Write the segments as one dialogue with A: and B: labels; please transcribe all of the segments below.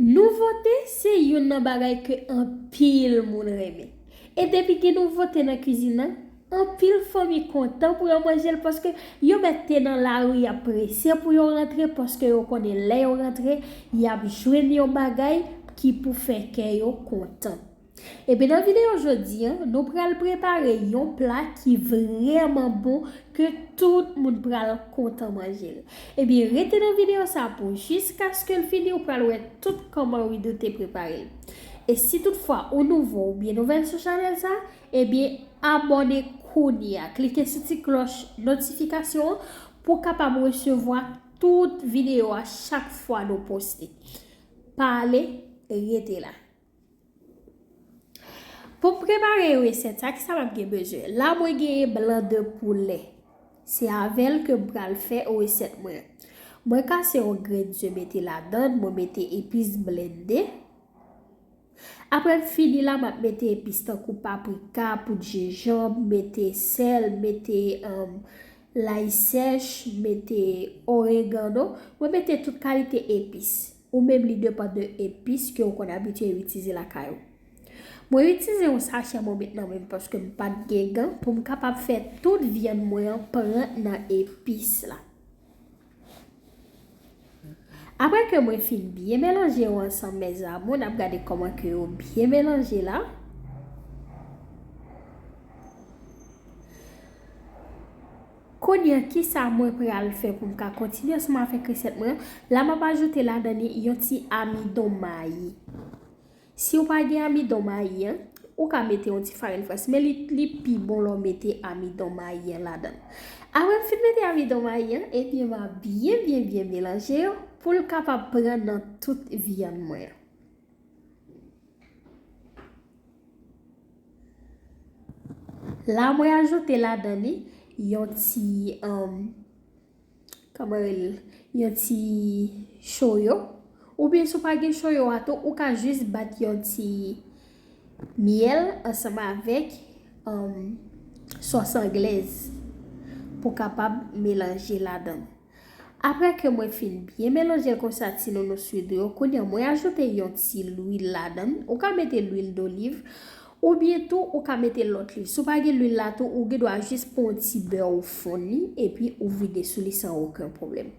A: Nouvote se youn nan bagay ke anpil moun renmen. E depi gen nouvote nan kizin nan, anpil fanmi kontan pou yo manje l paske yo mèt te nan lari y ap prese pou yo rantre paske yo konnen lè yo rantre y ap jwenn yon bagay ki pou fè kè yo kontan. Epi nan video jodi an nou pral prepare yon pla ki vrèman bon ke tout moun pral kontan manjel epi rete nan video sa pou jiskaskel fini ou pral wè tout kòman Widoo te preparel e si tout fwa ou nouvo oubyen nouvèl sou chanèl sa ebyen abòne kounya klike sou ti klòch notifikasyon an pou kapab resevwa tout video a chak fwa nou poste pa ale rete la. Pou m prepare resèt sa ki sa map gen bezwen la mwen genyen blan de poulè se avèl ke m pral fè resèt mwen mwen kase yon grenn ze mete ladann mwen mete epis blennde aprè m fini la map mete epis tankou paprika poud jenjanm mete sèl mete lay sèch mete oregano mwen mete tout kalite epis Ou menm li depan de epis ke ou konn abitye itize lakay ou. Mwen itize yon sachè mwen met nan menm paske m pat gen gan pou m kapab fè tout vyann mwen an pran nan epis la. Aprè ke mwen fin byen melanje yo ansanm mes amour nap gade koman ke yo byen melanje la. Konya kisa mwen pral fè poum ka kontinye sou m avèk resèt mwen an, la map ajoute ladan li yon ti amidon mayi. Siw pa gen amidon mayi an, ou ka mete yon ti farin frans men li pi bon lè w mete amidon mayi an ladan. Aprè m fin mete amidon mayi an, ebyen ma byen byen byen melanje yo poul kapab pran nan tout vyann mwen an. La mwen ajoute ladan li yon ti kòman rele l yon ti choyo ou byen sou pa gen choyo a tou ou ka jis bat yon ti myèl ansanm avèk sòs anglèz pou kapab melanje ladan. Aprè ke mwen fin byen melanjel konsa ti nono suido yo kounya mwen ajoute yon ti lwil ladann ou ka mete lwil doliv ou byen tou ou ka mete lòt lwill si w pa gen lwil la tou ou gen dwa jis pran yon ti bè ou fonn li epi ou vide sou li san oken pwoblèm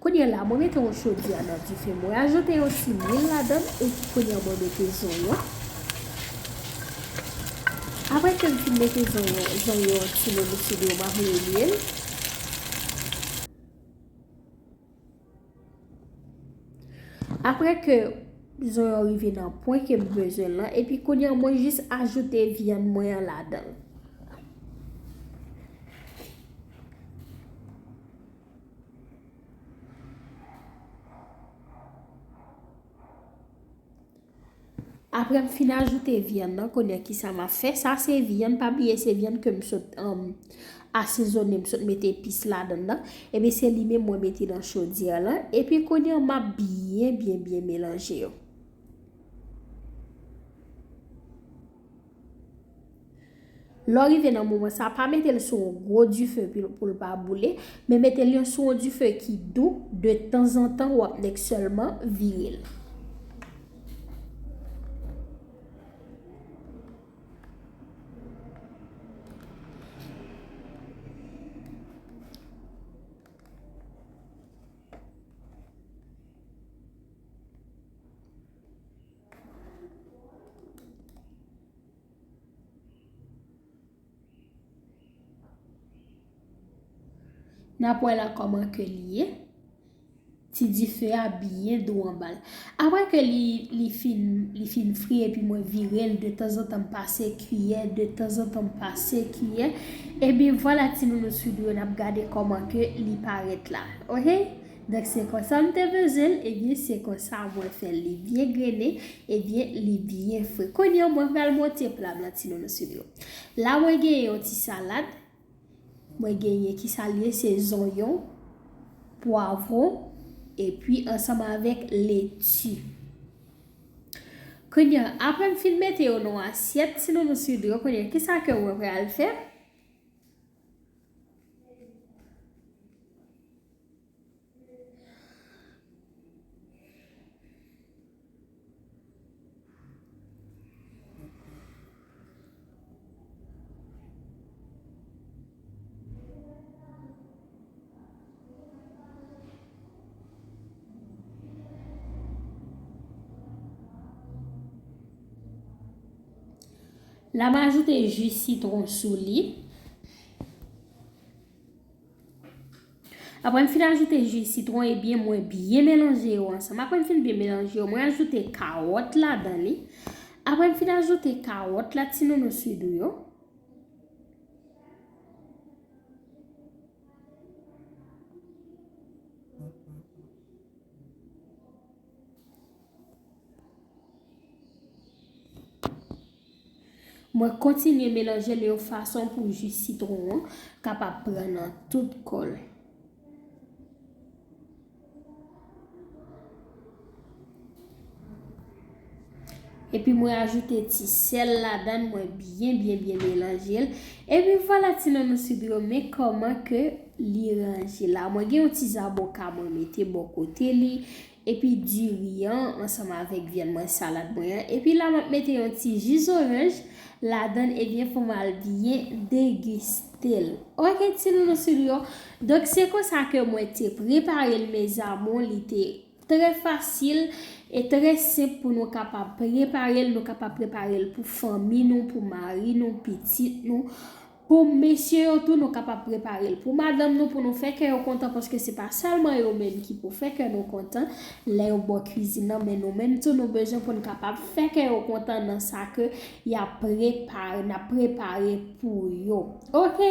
A: kounya la mwen mete yon chodyè nan dife mwen ajoute yon ti lwil ladann epi kounya mwen mete zonyon. Aprè kem fin mete zonyon zonyon an ti momo sou li yo map melyel. Aprè ke zonyon rive nan pwen kem bezwen lan epi kounya mwen jis ajoute vyann mwen an ladanl. Aprè m fin ajoute vyann nan konye kisa ma fè sa se vyann pa bliye se vyann ke m sot asezone m sot mete epis ladann nan epi se li menm mwen mete nan chodyè lan epi konye ma byen byen byen melanje yo. Lè w rive nan moman sa, pa mete l sou yon gwo dife pou l pa boule, men mete l sou yon dife ki dou, de tanzantan w ap nèk sèlman vire l. Nap wè la koman ke li ye. Ti dife a byen dou anba l. Apre ke li fin fri epi mwen vire l de tanzantan m pase kiyè, de tanzantan m pase kiyè. Ebyen vwala ti nounou sou dlo nap gade koman ke li paret la. Donk se konsa m te beze l ebyen se konsa mwen fè l li byen grene ebyen li byen fre kounye an mwen pral monte pla m lan ti nounous m yo la mwen genyen yon ti salad mwen genyen ki sa l ye se zonyon pwavron epi ansanm avèk leti kounye an aprè m fin mete yo nan yon asyèt ti nounous m yo kounye an ki sa ke mwen pral fè. La m ajoute ji sitwon sou li. Apre m fin ajoute ji sitwon ebyen mwen byen melanje yo ansanm apre m fin byen melanje yo mwen ajoute kawòt ladan li apre m fin ajoute kawòt la ti nono swidou yo Mwen kontinye melanjel yon fason pou ji sitron an kapab pran nan tout kòl. Epi mwen ajoute ti sèl ladan mwen byen byen byen melanjel. Epi vwala ti nan nou sib yo men kòman ke li ranje la. Mwen gen yon ti zaboka mwen mete bò kote li. epi diri an ansanm avèk vyann mwen salad mwen an epi la map mete yon ti ji zoranj ladann ebyen pou mal byen degustel ok ti nounous ou yo donk se konsa ke mwen te preparel mes amour li te trè fasil e trè senp pou nou kapab preparel nou kapab preparel pou fanmi nou pou mari nou pitit nou Pou mesye yo tou nou kapab prepare l pou madanm nou pou nou fè kè yo kontan paske se pa sèlman yo menm ki pou fè kè nou kontan lè yo bò kwizin nan men nou menm tou nou bezwen pou n kapab fè kè yo kontan nan sa ke y ap prepare n ap prepare pou yo ok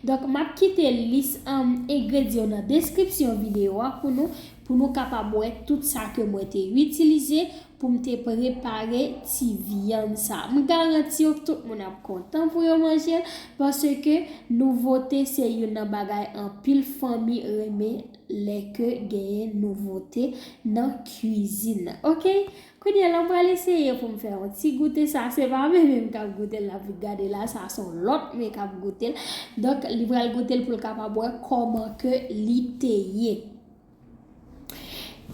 A: donk m ap kite lis engredyan yo nan deskripsyon videyo a pou nou Pou nou kapab wè tout sa ke mwen te itilize pou m te prepare ti vyann sa. M garanti w tout moun ap kontan pou yo manje l paske nouvote se youn nan bagay anpil fanmi renmen lè ke genyen nouvote nan kwizin nan. Ok, kounye a la m pral eseye pou m fè yon ti goute sa. Se pa mwen menm kap goute l la pou gade la, sa se yon lòt moun kap goute l. Donk li pral goute l pou l kapab wè kòman ke li te ye.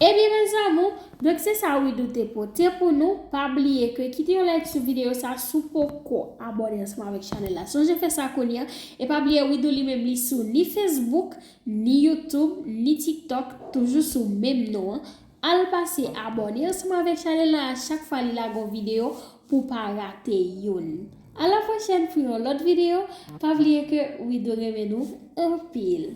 A: Ebyen mes amour, donk se sa Widoo te pote pou nou, pa bliye ke kite yon like sou video sa si w poko abone ansanm avèk chanèl la sonje fè sa kounya, e pa bliye Widoo li menm li sou ni Facebook, ni YouTube, ni TikTok toujou sou menm non an, al pase abone ansanm avèk chanèl la a chak fwa li lage yon video pou w pa rate youn. A la pwochèn pou yon lòt video, pa bliye ke Widoo renmen nou anpil.